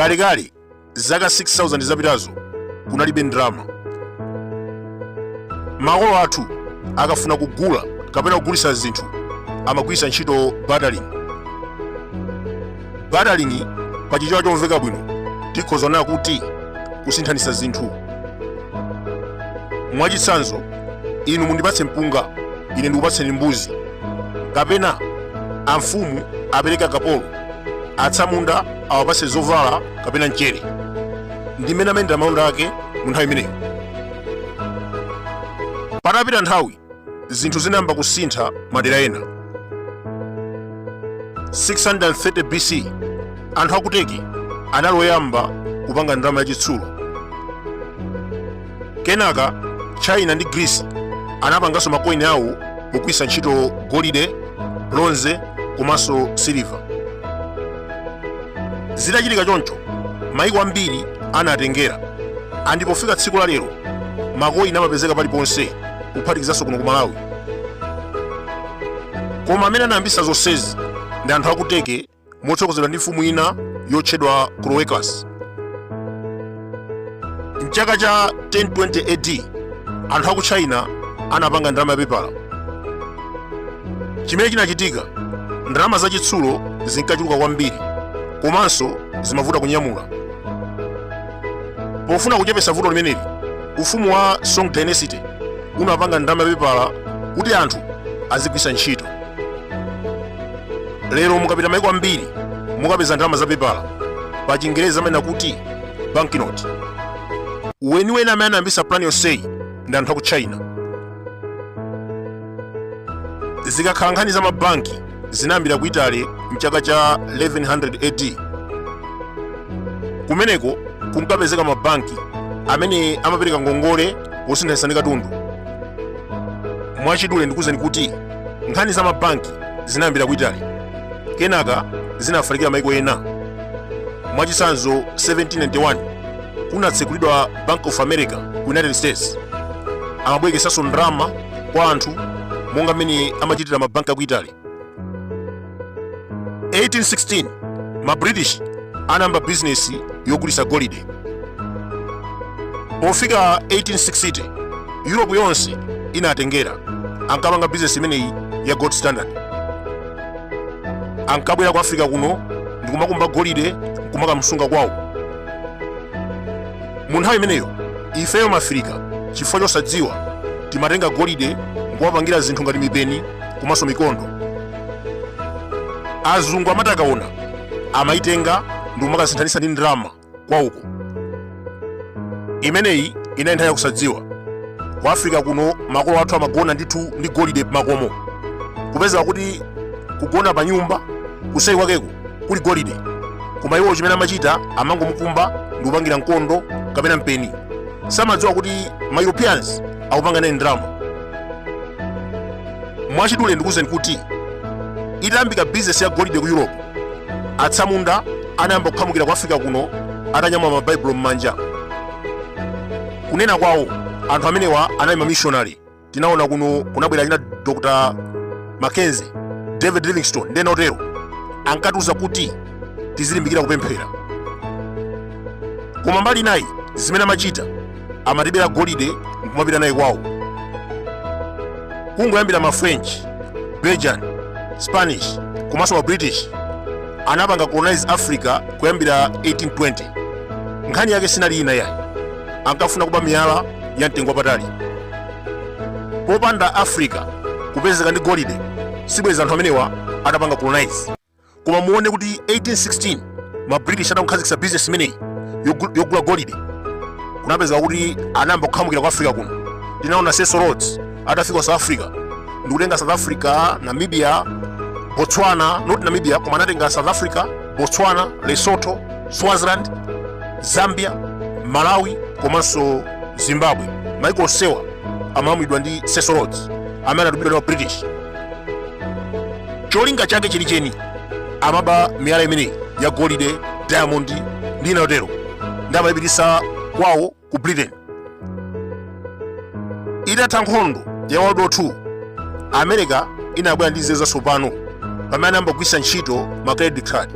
kalekale zaka 6000 zapitazo kunalibe ndalama makolo athu akafuna kugula kapena kugulitsa zinthu amagwiritsa ntchito bartering Bartering pa chichewa chomveka bwino tikhoza kunena kuti kusinthanitsa zinthu. Mwachitsanzo, inu mundipatse mpunga, ine ndikupatseni mbuzi. Kapena amfumu apereke akapolo, atsamunda awapatse zovala kapena mchere. Ndi mmene amayendera malonda ake mu nthawi imeneyo. Patapita nthawi, zinthu zinayamba kusintha madera ena 630 bc anthu akuteki anali oyamba kupanga ndalama yachitsulo kenaka china ndi greece anapanganso makoini awo pogwiritsa ntchito golide bronze komanso siliva zitachitika choncho maiko ambiri anatengera andi pofika tsiku la lero makoini amapezeka paliponse kuphatikizanso kuno ku malawi koma amene anayambisa zonsezi ndi anthu akuteki motsogozedwa ndi mfumu ina yotchedwa croesus mchaka cha 1020 ad anthu aku china anapanga ndalama yapepala chimene chinachitika ndalama zachitsulo zinkachuluka kwambiri komanso zimavuta kunyamula pofuna kuchepetsa vuto limeneli ufumu wa song dynasty unapanga ndalama yapepala kuti anthu azigwiritsa ntchito lero mukapita maiko ambiri mukapeza ndalama za pepala pa chingerezi amanena kuti banknote weniweni amene anayambitsa plan yonseyi ndi anthu aku china zikakhala nkhani za mabanki zinayambira ku italy mchaka cha 1100 ad kumeneko kunkapezeka mabanki amene amapereka ngongole wosinthanitsa ndi katundu mwachidule ndikuuzeni kuti nkhani za mabanki zinayambira ku italy kenaka zinafalikira maiko ena mwachitsanzo 1791 kunatsegulidwa bank of america ku united states amabwerekesanso ndalama kwa anthu monga mmene amachitira mabanki aku italy 1816 ma british anayamba bizinesi yogulitsa golide pofika 1860 europe yonse inatengera ankapanga bizinesi imeneyi ya gold standard ankabwera ku africa kuno ndikumakumba golide nkumakamsunga kwawo mu nthawi imeneyo ifeyo mafirika chifukwa chosadziwa timatenga golide nkuwapangira zinthu ngati mipeni komanso mikondo azungu amati akaona amayitenga ndi kumakasinthanitsa ndi ndalama kwawoko imeneyi inali nthawi yakusadziwa ku afirika kuno makolo athu amagona ndithu ndi golide makomo kupezeka kuti kugona pa nyumba kuseri kwakeko kuli golide koma iwo chimene amachita amangomukumba ndi kupangira mkondo kapena mpeni samadziwa kuti ma europeans akupanga naye ndalama mwachidule ndikuwuzeni kuti itayambika bizinesi ya golide ku europe atsamunda anayamba kukhamukira ku africa kuno atanyamula mabaibulo m'manja kunena kwawo anthu amenewa anali mamishonari tinaona kuno kunabwera achina dr mackenzie david livingstone ndi ena otero ankatiuza kuti tizilimbikira kupemphera koma mbali inayi zimene amachita amatibera golide nkumapita naye kwawo kungoyambira ma french belgian spanish komanso ma british anapanga colonize africa kuyambira 1820 nkhani yake sinali ina yayi ankafuna kuba miyala ya mtengo wapatali popanda africa kupezeka ndi golide sibwezi anthu amenewa atapanga colonize koma muone kuti 1816 ma british atakhazikitsa business imeneyi yogula golide kunapezeka kuti anayamba kukhamukira ku africa kuno tinaona cecil rhodes atafika south africa ndikutenga south africa namibia botswana not namibia koma anatenga south africa botswana lesotho swaziland zambia malawi komanso zimbabwe maiko onsewa amalamulidwa ndi cecil rhodes amene anatumidwa ndi ma british cholinga chake chenicheni amaba miyala imeneyi ya golide diamond ndi ina yotero ndi kumayipititsa kwawo ku britain itatha nkhondo ya world war 2 america inabwera ndi nzeru zatsopano pamene anayamba kugwiritsa ntchito ma credit card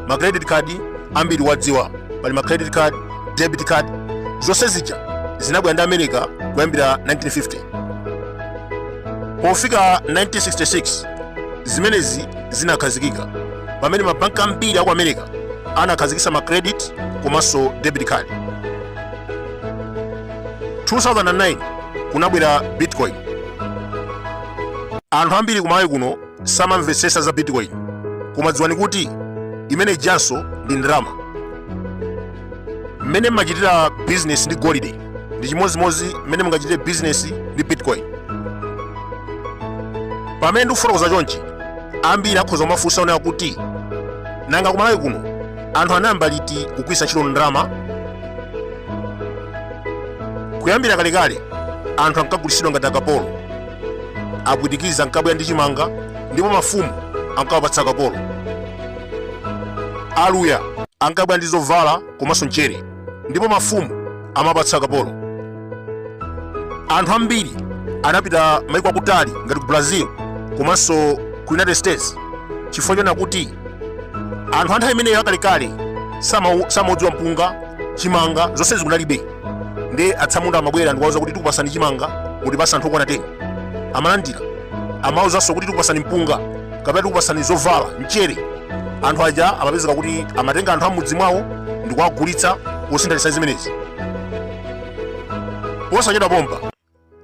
ma credit card ambiri mukuwadziwa pali ma credit card debit card zonse zija zinabwera ndi america kuyambira 1950 pofika 1966 Zimenezi zinakhazikika pamene mabanki ambiri aku America anakhazikitsa ma credit komanso debit card. 2009 kunabwera Bitcoin. Anthu ambiri ku Malawi kuno samamvetsetsa za Bitcoin, koma dziwani kuti imene ijanso ndi ndalama. Mmene mmachitira business ndi golide ndi chimodzimodzi mmene mungachitire bizinesi ndi bitcoin pamene ndikufotokoza chonchi ambiri akhoza kumafunsa onena kuti nanga kumalawi kuno anthu anayamba liti kugwiritsa ntchito ndalama kuyambira kalekale anthu ankagulitsidwa ngati akapolo apwitikiza ankabwera ndi chimanga ndipo mafumu ankawapatsa akapolo Aluya ankabwera ndi zovala komanso mchere ndipo mafumu amapatsa akapolo anthu ambiri anapita maiko akutali ngati ku brazil komanso ku united states chifukwa chonena kuti anthu anthawi imeneyo akalekale sama- samaudziwa mpunga chimanga zonsezi kunalibe ndi atsamunda amabwera ndikuwauza kuti tikupatsani chimanga mutipatsa anthu okwana 10 amalandira amawauzanso kuti tikupatsani mpunga kapena tikupatsani zovala mchere anthu aja amapezeka kuti amatenga anthu am'mudzi mwawo ndi kuwagulitsa posinthanitsa zimenezi posachedwa pompa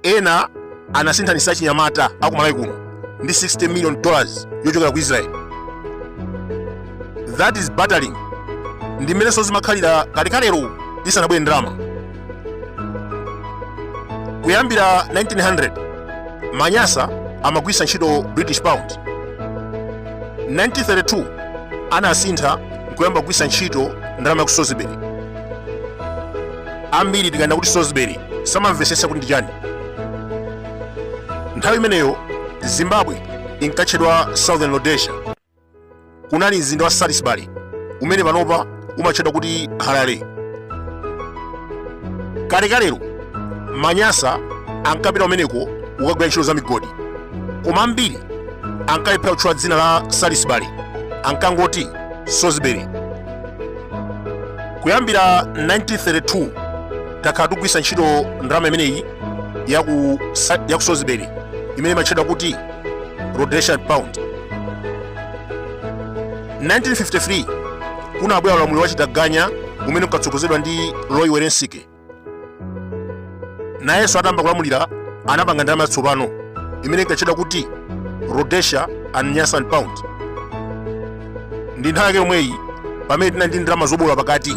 ena anasinthanitsa achinyamata akumalawi kuno ndi 60 million dollars yochokera ku israel that is bartering ndi mmenenso zimakhalira kalekalero isanabwere ndalama kuyambira 1900 manyasa amagwiritsa ntchito british pound 1932 anasintha nkuyamba kugwiritsa ntchito ndalama ya ku salisbury ambiri tikanena kuti salisbury samamvetsetsa kuti ndi chani nthawi imeneyo zimbabwe inkatchedwa southern rhodesia kunali mzinda wa salisbury umene panopa umatchedwa kuti harare kalekalero manyasa ankapita kumeneko kukagwira ntchito za migodi koma ambiri ankalephera kutchula dzina la salisbury ankangoti salisbury kuyambira 1932 takhala tikugwiritsa ntchito ndalama imeneyi ya ku salisbury imene imatchedwa kuti rhodesian pound 1953 kunabwera ulamuliro wa chitaganya umene unkatsogozedwa ndi roy welensky nayenso atayamba kulamulira anapanga ndalama yatsopano imene inkatchedwa kuti rhodesia and nyasaland pound ndi nthawi yake yomweyi pamene tinali ndi ndalama zoboola pakati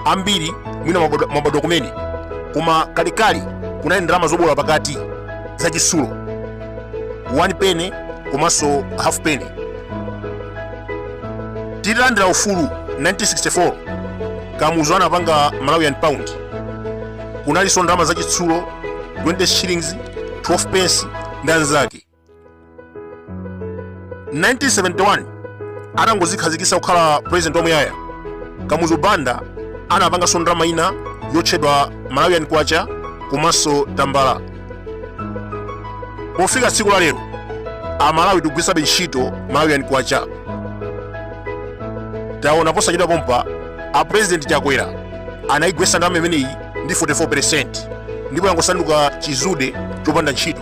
ambiri mwina mwabadwa kumene koma kalekale kunali ndalama zoboola pakati zachitsulo 1 penny komanso half penny titalandira ufulu 1964 kamuzu anapanga malawian pound kunalinso ndalama zachitsulo 20 shillings 12 pence ndi anzake 1971 atangozikhazikitsa kukhala president wamuyaya kamuzu banda anapanganso ndalama ina yotchedwa malawian kwacha komanso tambala pofika tsiku la lero amalawi tikugwiritsabe ntchito malawian kwacha taona posachedwa pompa a president chakwera anayigwetsa ndalama imeneyi ndi 44 percent ndipo yangosanduka chizude chopanda ntchito